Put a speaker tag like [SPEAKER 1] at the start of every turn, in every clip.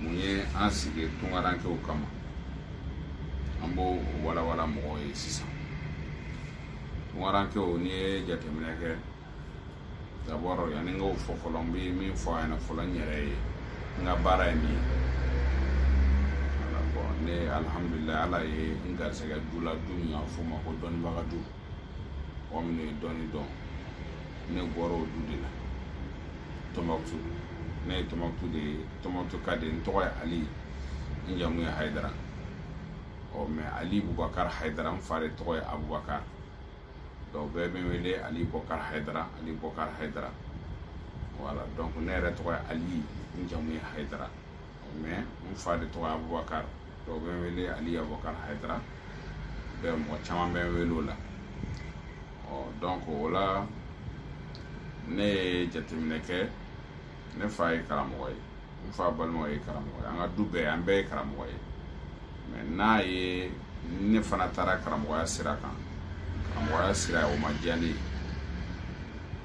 [SPEAKER 1] mun ye an sigi tungarankew kama an b'o walawala mɔgɔw ye sisan tungarankew n'i ye jateminɛ kɛ d'abord yanni n k'o fɔ fɔlɔ n bɛ min fɔ a ɲɛna fɔlɔ n yɛrɛ ye n ka baara ye min ye ne alihamudulila ala ye n garisɛgɛ du la du min y'a fɔ o ma ko dɔnnibaga du mɔgɔ minnu ye dɔnni dɔn ne bɔra o du de la tɔnbɔkutu ne ye tɔnbɔkutu de ye tɔnbɔkutu ka de ye n tɔgɔ ye ali n jamu ye hayidara ɔ mais ali bubakari hayidara n fa de tɔgɔ ye abubakari dɔw bɛɛ bɛ n wele ali bubakari hayidara ali bubakari hayidara voilà donc ne yɛrɛ tɔgɔ ye ali n jamu ye hayidara mais n fa de tɔgɔ abubakar dɔw bɛ n wele ali abubakar hayidara bɛ mɔgɔ caman bɛ n wele o la ɔ donc o la ne ye jateminɛ kɛ ne fa ye karamɔgɔ ye n fa balimaw ye karamɔgɔ ye an ka du bɛɛ an bɛɛ ye karamɔgɔ ye mais n'a ye ne fana taara karamɔgɔya sira kan karamɔgɔya sira o ma diya ne ye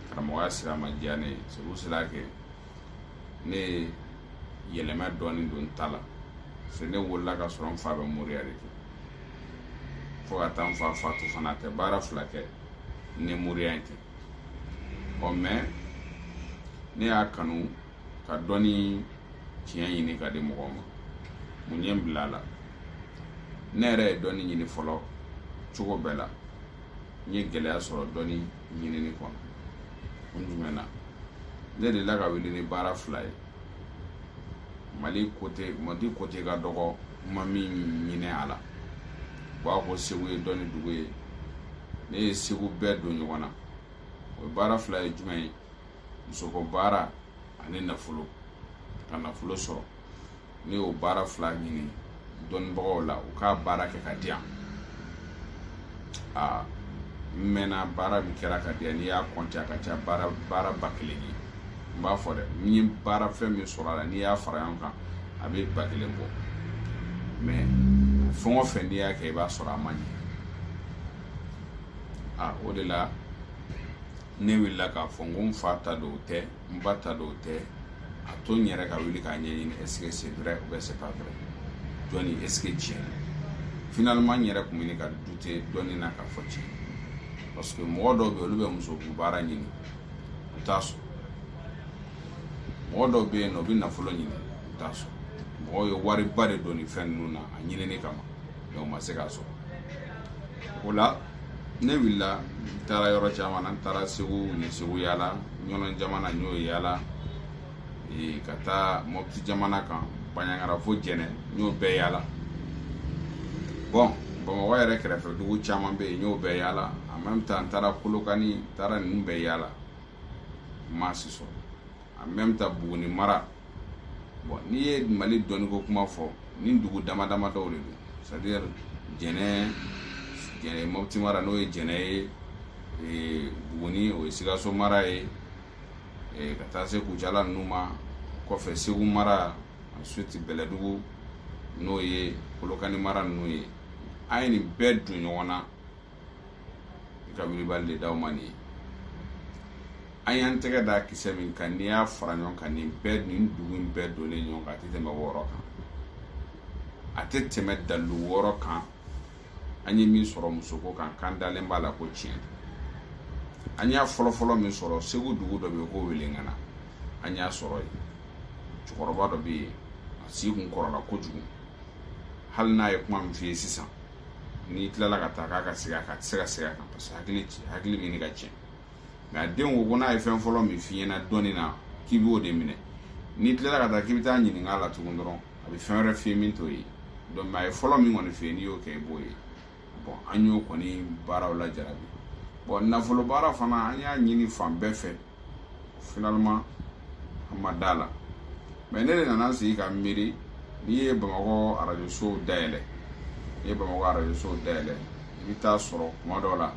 [SPEAKER 1] karamɔgɔya sira ma diya ne ye c'est pour cela que ne ye yɛlɛma dɔɔnin don n ta la se ne wolola ka sɔrɔ n fa bɛ moriya de kɛ fo ka taa n fa fatu fana a tɛ baara fila kɛ ni moriya in tɛ ɔ mais ne y'a kanu ka dɔnni tiɲɛ ɲini k'a di mɔgɔw ma mun ye n bila a la ne yɛrɛ ye dɔnni ɲini fɔlɔ cogo bɛɛ la n ye gɛlɛya sɔrɔ dɔnni ɲinini kɔnɔ kun jumɛn na ne delila ka wuli ni baara fila ye mali côté mali côté ka dɔgɔ n ma min ɲini a la u b'a fɔ segu ye dɔnni dugu ye ne ye segu bɛɛ don ɲɔgɔn na o baara fila ye jumɛn ye musoko baara ani nafolo ka nafolo sɔrɔ ne y'o baara fila ɲini dɔnnibagaw la u ka baara kɛ k'a di yan aa n mɛnna baara min kɛra ka di yan n'i y'a compter a ka ca baara ba kelen ye n b'a fɔ dɛ n ye baara fɛn min sɔrɔ a la n'i y'a fara ɲɔgɔn kan a bɛ ba kelen bɔ mais fɛn o fɛn n'i y'a kɛ i b'a sɔrɔ a ma ɲɛ a o de la ne wulila k'a fɔ n ko n fa ta don o tɛ n ba ta don o tɛ a to n yɛrɛ ka wuli k'a ɲɛɲini est ce que c'est vrai ou bien c'est pas vrai dɔnni est ce que tiɲɛ don finalement n yɛrɛ tun bɛ ɲini ka douter dɔnni na k'a fɔ tiɲɛ parce que mɔgɔ dɔw bɛ yen olu bɛ musoko baara ɲini u t'a sɔrɔ mɔgɔ dɔw bɛ yen n'u bɛ nafolo ɲini u t'a sɔrɔ mɔgɔw ye wariba de don nin fɛn ninnu na a ɲinini kama donc ma se k'a sɔrɔ o la ne wulila n taara yɔrɔ caman na n taara segu n ye segu yaala ɲɔnɔn jamana n y'o yaala ka taa mɔpiti jamana kan baɲangara fo jɛnɛ n y'o bɛɛ yaala bon bamakɔ yɛrɛ kɛrɛfɛ dugu caman bɛ yen n y'o bɛɛ yaala en même temps n taara kolokani n taara ninnu bɛɛ yaala n ma si sɔrɔ en même temps buguni mara bon n'i ye mali dɔnniko kuma fɔ ni dugu dama dama dɔw de don c'est-à-dire jɛnɛ jɛnɛ mɔputi mara n'o ye jɛnɛ ye ee, buguni o ye sikaso mara ye ee, ka taa se kucala ninnu ma o kɔfɛ segu mara ensuite bɛlɛdugu n'o ye kolokani mara ninnu ye an ye nin bɛɛ don ɲɔgɔn na i ka wilibali de d'aw ma nin ye an y'an tɛgɛ da kisɛ min kan n'i y'a fara ɲɔgɔn kan nin bɛɛ nin dugu in bɛɛ donnen ɲɔgɔn kan a tɛ tɛmɛ wɔɔrɔ kan a tɛ tɛmɛ dalilu wɔɔrɔ kan an ye min sɔrɔ musoko kan k'an dalen b'a la ko tiɲɛ an y'a fɔlɔfɔlɔ min sɔrɔ segu dugu dɔ bɛ yen ko welengana an y'a sɔrɔ yen cɛkɔrɔba dɔ bɛ yen a si kun kɔrɔla kojugu hali n'a ye kuma min f'i ye sisan n'i tilala ka taa k'a ka segin a kan a tɛ se ka segin a kan parce que hakili ci hakili bɛ ɲini ka tiɲɛ nka a den ko ko n'a ye fɛn fɔlɔ min f'i ɲɛna dɔnni na k'i b'o de minɛ n'i tilala ka taa k'i bɛ taa ɲininka a la tugun dɔrɔn a bɛ fɛn wɛrɛ f'i ye min t'o ye donc a ye fɔlɔ min kɔni f'i ye n'i y'o kɛ i b'o ye bon an y'o kɔni baaraw la jarabi bon nafolo baara fana an y'a ɲini fan bɛɛ fɛ finalement an ma d'a la mais ne de nana sigi ka miiri n'i ye bamakɔ arajo sow dayɛlɛ n'i ye bamakɔ arajo sow dayɛlɛ i bɛ t'a sɔrɔ kuma dɔw la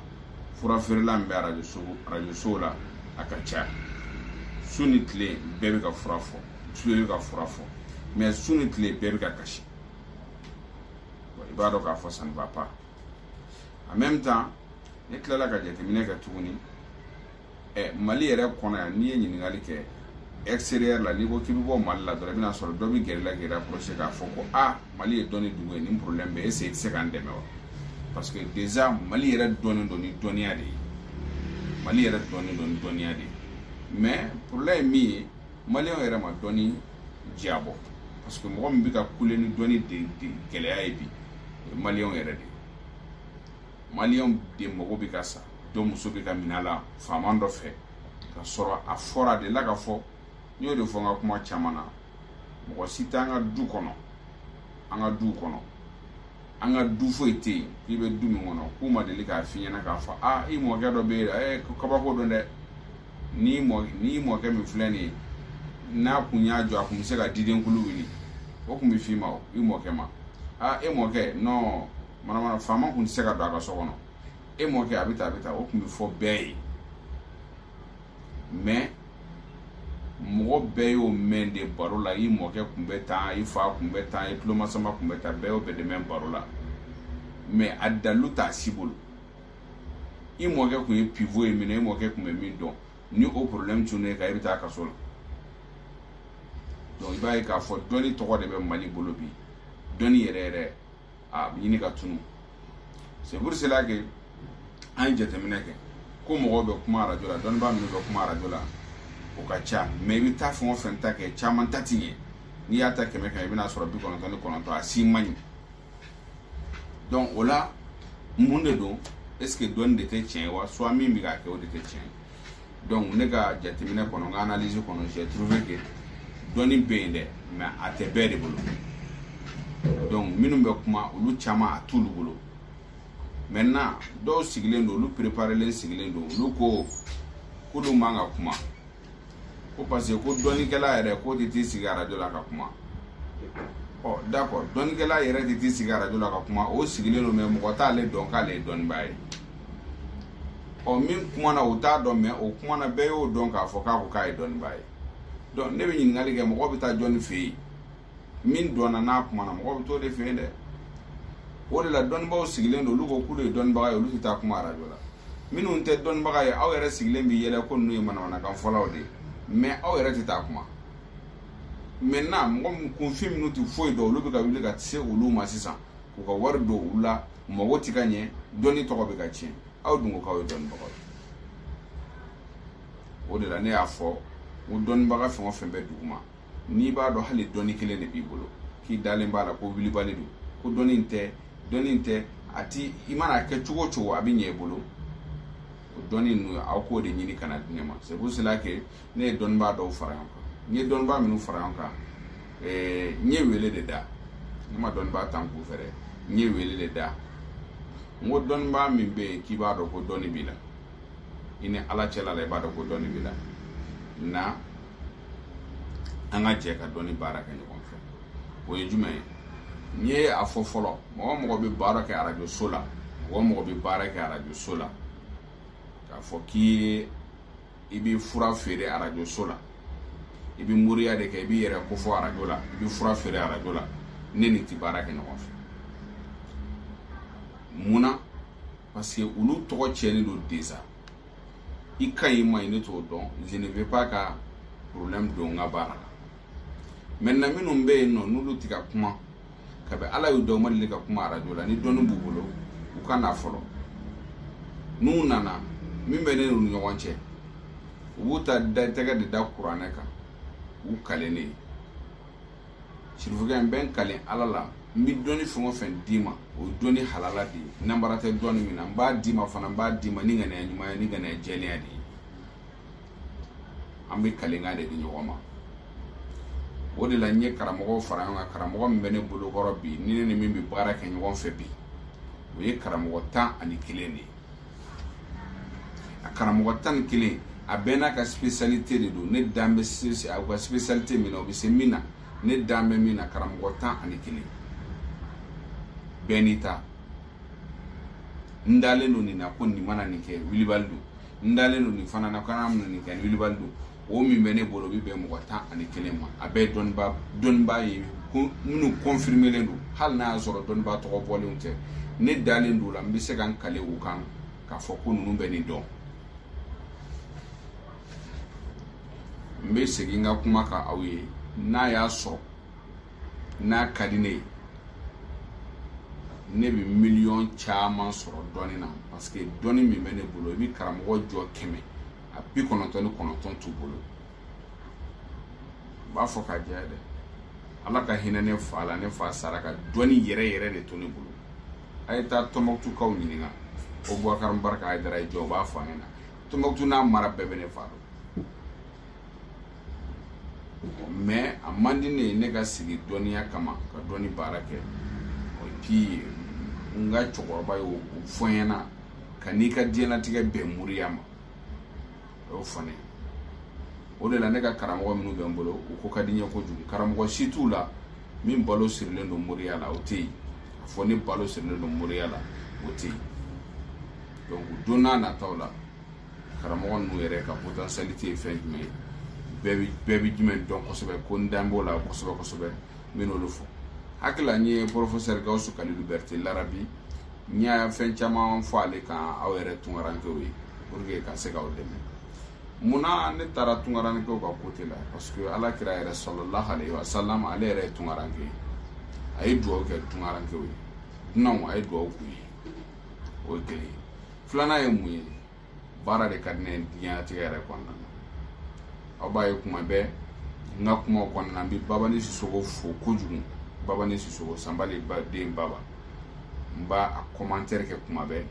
[SPEAKER 1] fura feerela min bɛ arajo so arajo sow la a ka ca su ni tile bɛɛ bɛ ka fura fɔ su bɛɛ bɛ ka fura fɔ mais su ni tile bɛɛ bɛ ka kasi i b'a dɔn k'a fɔ ça ne va pas en même temps ne tilala ka jateminɛ kɛ tuguni ɛ mali yɛrɛ kɔnɔ yan n'i ye ɲininkali kɛ extérieur la n'i ko k'i bɛ bɔ mali la dɔrɔn i bɛn'a sɔrɔ dɔ bɛ gɛrɛ i la k'i rapproché k'a fɔ ko a mali ye dɔnni dugu ye nin problème bɛ est-ce i tɛ se k'an dɛmɛ wa parce que déjà mali yɛrɛ dɔnnen don ni dɔnniya de ye mali yɛrɛ dɔnnen don ni dɔnniya de ye mais problème ye min ye maliyɛnw yɛrɛ ma dɔnni diyabɔ parce que mɔgɔ min bɛ ka kule ni dɔnni de gɛlɛya ye bi o ye maliyɛnw yɛrɛ de ye maliyɛnw de mago bɛ ka sa dɔ muso bɛ ka minɛ a la faama dɔ fɛ ka sɔrɔ a fɔra de la ka fɔ n y'o de fɔ n ka kuma caman na mɔgɔ si t'an ka du kɔnɔ an ka duw kɔnɔ an ka du foyi tɛ yen k'i bɛ du min kɔnɔ k'u ma deli k'a f'i ɲɛna k'a fɔ aa i mɔkɛ dɔ bɛ yen ɛ kabako don dɛ n'i mɔ n'i mɔkɛ min filɛ nin ye n'a kun y'a jɔ a kun bɛ se ka diden kulu wuli o kun bɛ f'i ma o i mɔkɛ ma aa e mɔkɛ non manamana faama kun tɛ se ka don a ka so kɔnɔ e mɔkɛ a bɛ taa a bɛ taa o kun bɛ fɔ bɛɛ ye mais mɔgɔ bɛɛ y'o mɛn de baro la i mɔkɛ kun bɛ tan i fa kun bɛ tan i tulomasama kun bɛ tan bɛɛ y'o bɛɛ de mɛn baro la mais a dalu t'a si bolo i mɔkɛ kun ye pivo ye minɛ i mɔkɛ kun bɛ min dɔn ni o problème tunn'e kan i bɛ taa kaso la donc i b'a ye k'a fɔ dɔnni tɔgɔ de bɛ mali bolo bi dɔnni yɛrɛ yɛrɛ a bɛ ɲini ka tunu c'est pour cela que an ye jateminɛ kɛ ko mɔgɔw bɛ kuma arajo la dɔnnibaa minnu bɛ kuma arajo la o ka ca mais i bɛ taa fɛn o fɛn ta kɛ caman ta ti ɲɛ n'i y'a ta kɛmɛ kɛmɛ i bɛna sɔrɔ bi kɔnɔntɔn ni kɔnɔntɔn a si man ɲi donc o la mun de don est-ce que dɔnni de tɛ tiɲɛ wa soit min bɛ k'a kɛ o de tɛ tiɲɛ ye donc ne ka jateminɛ kɔnɔ n ka analyse kɔnɔ j'ai trouvé que dɔnni bɛ yen dɛ mais a tɛ bɛɛ de bolo donc minnu bɛ kuma olu caman a t'olu bolo maintenant dɔw sigilen don olu préparelen sigilen don olu ko k'olu man ka kuma ko parce que ko dɔnnikɛla yɛrɛ k'o tɛ t'i sigi arajo la ka kuma ɔ d'accord dɔnnikɛla yɛrɛ tɛ t'i sigi arajo la ka kuma o sigilen don mais mɔgɔ t'ale dɔn k'ale ye dɔnnibaa ye ɔ min kumana o t'a dɔn mais o kumana bɛɛ y'o dɔn k'a fɔ k'a ko k'a ye dɔnnibaa ye donc ne bɛ ɲininkali kɛ mɔgɔ bɛ taa jɔnni fɛ yen min dɔnna n'a kumana mɔgɔ bɛ t'o de fɛ yen dɛ o de la dɔnnibaaw sigilen don olu ko k'olu ye dɔnnibaga ye olu tɛ taa kuma arajo la minnu tɛ dɔnnibaga ye aw yɛrɛ sigilen bɛ yɛlɛ ko ninnu ye manamanakan fɔlaw de ye mais aw yɛrɛ tɛ taa kuma maintenant mɔgɔ min kunfin minnu tɛ foyi dɔn olu bɛ ka wuli ka se olu ma sisan u ka wari don u la mago ti ka ɲɛ dɔnni tɔgɔ bɛ ka tiɲɛ aw dun ko k'aw ye dɔnnibagaw ye o de la ne y'a fɔ n ko dɔnnibaga fɛn o fɛn bɛ duguma n'i b'a dɔn hali dɔnni kelen de b'i bolo k'i dalen b'a la ko wulibali don ko dɔnni in tɛ dɔnni in tɛ a ti i mana a kɛ cogo o cogo a bɛ ɲɛ i bolo o dɔnni ninnu aw k'o de ɲini ka na di ne ma c'est pour cela que ne ye dɔnnibaa dɔw fara ɲɔgɔn kan n ye dɔnnibaa minnu fara ɲɔgɔn kan eh, n ye wele de da ne ma dɔnnibaa ta n kun fɛ dɛ n ye wele de da n ko dɔnnibaa min bɛ yen k'i b'a dɔn ko dɔnni b'i la i ni ala cɛla la i b'a dɔn ko dɔnni b'i la na an ka jɛ ka dɔnni baara kɛ ɲɔgɔn fɛ o ye jumɛn ye n ye a fɔ fɔlɔ mɔgɔ mɔgɔ bɛ baara kɛ arajo so la mɔgɔ mɔgɔ bɛ baara kɛ arajo so la k'a fɔ k'i ye i bɛ fura feere arajo so la i bɛ moriya de kɛ i b'i yɛrɛ kofɔ arajo la i bɛ fura feere arajo la ne n'i ti baara kɛ ɲɔgɔn fɛ mun na parce que olu tɔgɔ tiɲɛnen don déjà i ka ɲi i man ɲi ne t'o dɔn je ne veux pas ka problème don n ka baara la maintenant minnu bɛ yen nɔ n'olu ti ka kuma kabi ala y'u da u ma deli ka kuma arajo la ni dɔnni b'u bolo u ka na fɔlɔ n'u nana min bɛ ne n'u ni ɲɔgɔn cɛ u b'u ta da tɛgɛ de da kuranɛ kan u kalen ne ye sirifukɛ n bɛ n kalen ala la n bɛ dɔnni fɛn o fɛn d'i ma o ye dɔnni halala de ye nanbara tɛ dɔnni min na n b'a d'i ma fana n b'a d'i ma ni ŋaniya ɲuman ye ni ŋaniya jɛlenya de ye an bɛ kalenkan de di ɲɔgɔn ma o de la n ye karamɔgɔw fara ɲɔgɔn kan karamɔgɔ min bɛ ne bolokɔrɔ bi ni ne ni min bɛ baara kɛ ɲɔgɔn fɛ bi o ye karamɔgɔ tan ani kelen de ye a karamɔgɔ tan ni kelen a bɛɛ n'a ka spécialité de don ne dan bɛ se a ka spécialité min na o bɛ se min na ne dan bɛ min na karamɔgɔ tan ani kelen bɛɛ n'i ta n dalen don nin na ko nin mana nin kɛ wilibali don n dalen don nin fana na ka nin mana nin kɛ wilibali don o min bɛ ne bolo o bɛ bɛn mɔgɔ tan ani kelen ma a bɛɛ dɔnnibaa ye minnu kɔnfirimelen don hali n'a y'a sɔrɔ dɔnnibaa tɔgɔ bɔlenw tɛ ne dalen don o la n bɛ se ka n kale o kan k'a fɔ ko ninnu bɛ nin dɔn n bɛ segin n ka kuma kan aw ye n'a y'a sɔrɔ n'a ka di ne ye ne bɛ miliyɔn caman sɔrɔ dɔnni na parce que dɔnni min bɛ ne bolo i bɛ karamɔgɔ jɔ kɛmɛ a bi kɔnɔntɔn ni kɔnɔntɔn t'u bolo n b'a fɔ k'a jɛya dɛ ala ka hinɛ ne fa la ne fa sara ka dɔnni yɛrɛ yɛrɛ de to ne bolo a ye taa tɔnbɔkutukaw ɲininka ko bubakari barika ayidara ye jɔn u b'a fɔ a ɲɛna tɔnbɔkutu n'a mara bɛɛ bɛ ne fa dɔn mais a man di ne ye ne ka sigi dɔnniya kama ka dɔnni baara kɛ puis n ka cɛkɔrɔba y'o fɔ n ɲɛna kan'i ka diɲɛlatigɛ bɛn moriya ma o y'o fɔ ne ye o de la ne ka karamɔgɔ minnu bɛ n bolo u ko ka di n ye kojugu karamɔgɔ si t'u la min balo sirilen don moriya la o tɛ yen a fɔ ne balo sirilen don moriya la o tɛ yen donc u donna nataw la karamɔgɔ ninnu yɛrɛ ka potentialité ye fɛn jumɛn ye bɛɛ bi bɛɛ bi jumɛn dɔn kosɛbɛ ko n da b'o la kosɛbɛ kosɛbɛ n bɛ n'olu fɔ hakilila n ye professeur gawusu kalilu berete larabi n y'a fɛn caman fɔ ale kan aw yɛrɛ tunkarankew ye pour que ka se k'aw dɛmɛ munna ne taara tunkarankew ka côté la parce que ala kira yɛrɛ sallallahu alayhi wa sallam ale yɛrɛ ye tunkaranke ye a ye dugawu kɛ tunkarankew ye dunanw a ye dugawu k'u ye o ye kelen ye filanan ye mun ye baara de ka di ne ye diɲɛnatigɛ yɛrɛ kɔnɔna na aw b'a ye kuma bɛɛ n ka kumaw kɔnɔna na n bɛ babani sisogo fo kojugu babani sisogo sanba de ba den baba n b'a a commentaire kɛ kuma bɛɛ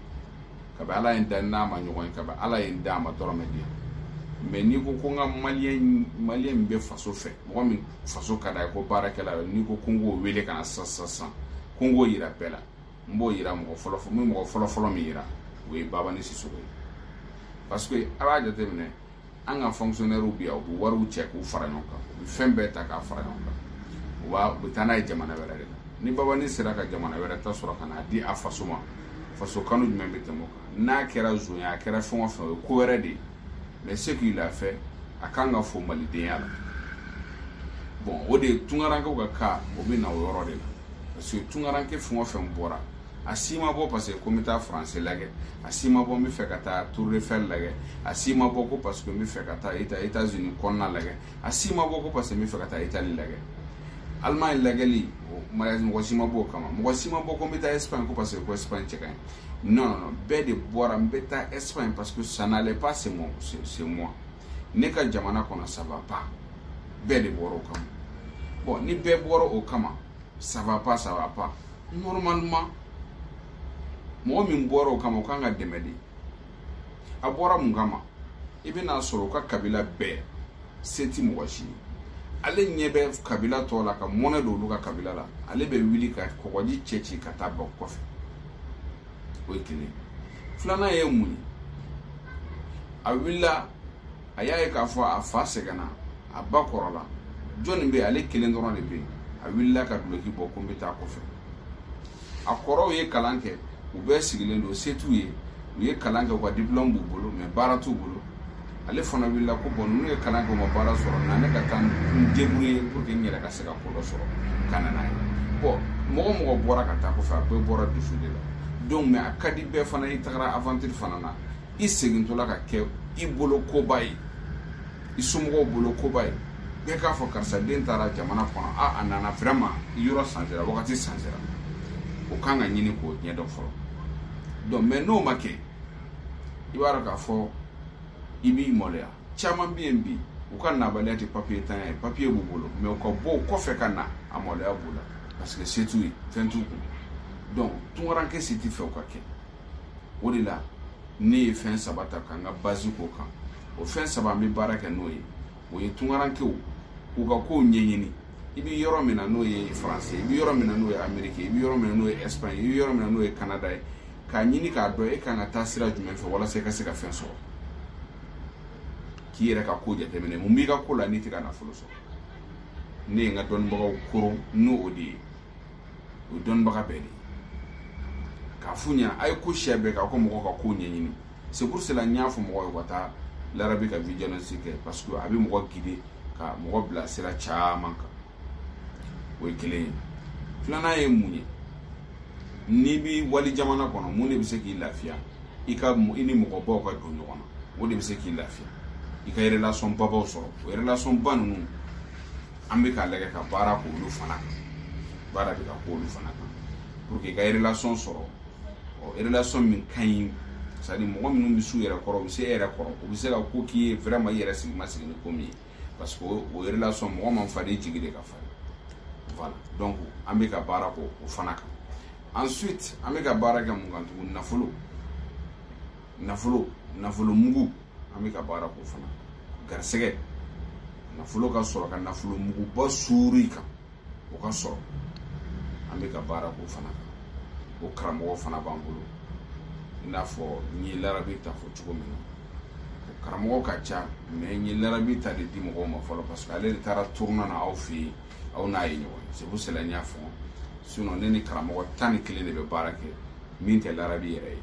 [SPEAKER 1] kabi ala ye n da n'a ma ɲɔgɔn ye kabi ala ye n da a ma dɔrɔmɛ di yan mais n'i ko ko n ka maliyɛn maliyɛn min bɛ faso fɛ mɔgɔ min faso ka d'a ye ko baarakɛla n'i ko ko n k'o wele ka na sisan sisan ko n k'o yira bɛɛ la n b'o yira mɔgɔ fɔlɔ fɔlɔ min yira o ye babani sisogo ye parce que a b'a jateminɛ an ka fonctionnaires bi yan u bɛ wariw cɛ k'u fara ɲɔgɔn kan u bɛ fɛn bɛɛ ta k'a fara ɲɔgɔn kan u b'a u bɛ taa n'a ye jamana wɛrɛ de la ni babani sera ka jamana wɛrɛ ta sɔrɔ ka n'a di a faso ma faso kanu jumɛn bɛ tɛmɛ o kan n'a kɛra zonya a kɛra fɛn o fɛn o ye ko wɛrɛ de ye mais ce qu'il a fait a kan ka fɔ malidenya la bon o de ye tunkarankew ka ko o bɛ na o yɔrɔ de la parce que tunkaranke fɛn o fɛn bɔra a si ma bɔ parce que ko n bɛ taa faransɛ lagɛ a si ma bɔ n bɛ fɛ ka taa tour eiffel lagɛ a si ma bɔ ko parce que n bɛ fɛ ka taa eta etats unis kɔnɔna lagɛ a si ma bɔ ko parce que n bɛ fɛ ka taa itali lagɛ allemagne lagɛli mɔgɔ si ma bɔ o kama mɔgɔ si ma bɔ ko n bɛ taa espagne ko parce que ko espagne cɛ ka ɲi non non bɛɛ de bɔra n bɛ taa Espagne parce que ça n'allait pas chez moi ne ka jamana kɔnɔ ça va pas bɛɛ de bɔra o kama bon ni bɛɛ bɔra o kama ça va pas ça va pas normalement mɔgɔ min bɔra o kama o kan ka dɛmɛ de a bɔra mun kama i bɛna sɔrɔ u ka kabila bɛɛ se ti mɔgɔ si ye ale ɲɛ bɛ kabila tɔ la ka mɔnɛ don olu ka kabila la ale bɛ wuli ka kɔgɔji cɛci ka taa bɔ kɔfɛ o ye kelen filanan ye mun ye a wulila a y'a ye k'a fɔ a fa sɛgɛnna a ba kɔrɔla jɔnni bɛ ale kelen dɔrɔn de bɛ yen a wulila ka duloki bɔ ko n bɛ taa kɔfɛ a kɔrɔw ye kalan kɛ u bɛɛ sigilen don se t'u ye u ye kalan kɛ u ka diplɔmu b'u bolo mais baara t'u bolo ale fana wulila ko bon ninnu ye kalan kɛ u ma baara sɔrɔ na ne ka taa n débrouiller pour que n yɛrɛ ka se ka ko dɔ sɔrɔ ka na n'a ye bon mɔgɔ o mɔgɔ bɔra ka taa kɔfɛ a bɛɛ bɔra dusu de la donc mais a ka di bɛɛ fana i tagara aventure fana na i segintɔla ka kɛ i bolo koba ye i somɔgɔw bolo koba ye bɛɛ k'a fɔ karisa den taara jamana kɔnɔ a a nana vraiment yɔrɔ sansera wagati sansera o kan ka ɲini k'o ɲɛdɔn fɔlɔ donc mais n'o ma kɛ i b'a dɔn k'a fɔ i b'i maloya caman bɛ yen bi u ka nabaliya tɛ papiye tanya ye papiye b'u bolo mais u ka bɔ o kɔfɛ ka na a maloya b'u la parce que se t'u ye fɛn t'u kun donc tunkaranke si tɛ fɛ o ka kɛ o de la ne ye fɛn saba ta ka n ka base k'o kan o fɛn saba an bɛ baara kɛ n'o ye o ye tunkarankew k'u ka kow ɲɛɲini i bɛ yɔrɔ min na n'o ye faransi ye i bɛ yɔrɔ min na n'o ye ameriki ye i bɛ yɔrɔ min na n'o ye ɛsipaɲi i bɛ yɔrɔ min na n'o ye kanada ye k'a ɲini k'a dɔn e kan ka taa sira jumɛn fɛ walasa i ka se ka fɛn sɔrɔ k'i yɛrɛ ka ko jateminɛ mun b'i ka ko la n'i tɛ ka nafolo sɔrɔ ne ye n ka dɔnnibagaw koron n'o o de ye o ye dɔnnibaga bɛɛ de ye k'a f'u ɲɛna a ye ko sɛbɛ kɛ aw ka mɔgɔw ka kow ɲɛɲini c'est pour cela n y'a fɔ mɔgɔw ye u ka taa larabi ka vigilance kɛ parce que a bɛ mɔgɔ guider ka mɔgɔ bila sira caman kan o ye kelen ye filanan ye mun ye n'i bi wali jamana kɔnɔ mun de bɛ se k'i lafiya i ka i ni mɔgɔbaw ka don ɲɔgɔn na o de bɛ se k'i lafiya i ka relation babaw sɔrɔ o relation ba ninnu an bɛ k'a lajɛ ka baara k'olu fana kan baara bɛ ka k'olu fana kan pour que i ka relation sɔrɔ o relation min ka ɲi c'est à dire mɔgɔ minnu bɛ s'u yɛrɛ kɔrɔ u bɛ se e yɛrɛ kɔrɔ u bɛ se ka ko k'i ye vraiment i yɛrɛ sigi ma sigi ni ko min ye parce que o relation mɔgɔ man farin i jigi de ka farin voilà donc an bɛ ka baara k'o o fana kan ensuite an bɛ ka baara kɛ mun kan tugun nafolo nafolo nafolo mugu an bɛ ka baara k'o fana garisɛgɛ nafolo ka sɔrɔ ka nafolo muguba suur'i kan o ka sɔrɔ an bɛ ka baara k'o fana kan o karamɔgɔ fana b'an bolo i n'a fɔ n ye larabi ta fɔ cogo min na o karamɔgɔ ka ca mais n ye larabi ta de di mɔgɔw ma fɔlɔ parce que ale de taara tournée na aw fɛ yen aw n'a ye ɲɔgɔn ye c'est pour cela n y'a fɔ sinon ne ni karamɔgɔ tan ni kelen de bɛ baara kɛ min tɛ larabi yɛrɛ ye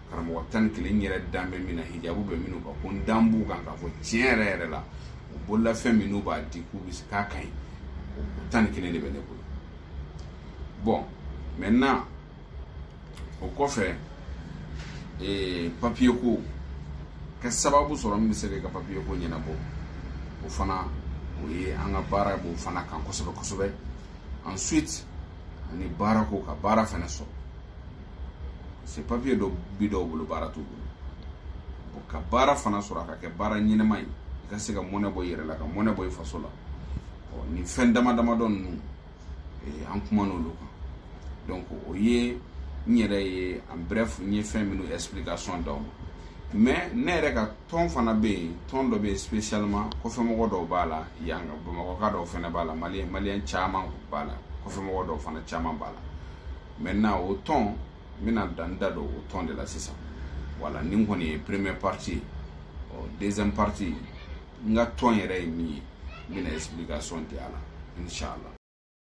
[SPEAKER 1] karamɔgɔ tan ni kelen n yɛrɛ dan bɛ min na hijabu bɛ minnu kan ko n dan b'u kan k'a fɔ tiɲɛ yɛrɛ yɛrɛ la u bololafɛn minnu b'a di k'u bɛ se k'a ka ɲi o tan ni kelen de bɛ ne bolo bon maintenant o kɔfɛ ee papiye ko ka sababu sɔrɔ min bɛ se ka papiye ko ɲɛnabɔ o fana o ye an ka baara b'o fana kan kosɛbɛ kosɛbɛ ensuite ani baara ko ka baara fana sɔrɔ se papiye dɔ bi dɔw bolo baara t'u bolo bon ka baara fana sɔrɔ a ka kɛ baara ɲɛnama ye i ka se ka mɔnɛ bɔ i yɛrɛ la ka mɔnɛ bɔ i faso la nin fɛn dama damadɔ ninnu an kuman'olu kan donc o ye n yɛrɛ ye en bref n ye fɛn minnu explication d'aw ma mais ne yɛrɛ ka tɔn fana bɛ yen tɔn dɔ bɛ yen spécialement kɔfɛmɔgɔ dɔw b'a la yan bamakɔka dɔw fana b'a la maliyɛn maliyɛn caman b'a la kɔfɛmɔgɔ dɔw fana caman b'a la maintenant o tɔn n bɛna dan da don o tɔn de la sisan voilà nin kɔni ye première partie ye ɔ deuxième partie n ka tɔn yɛrɛ ye min ye n bɛna explication di a la inshallah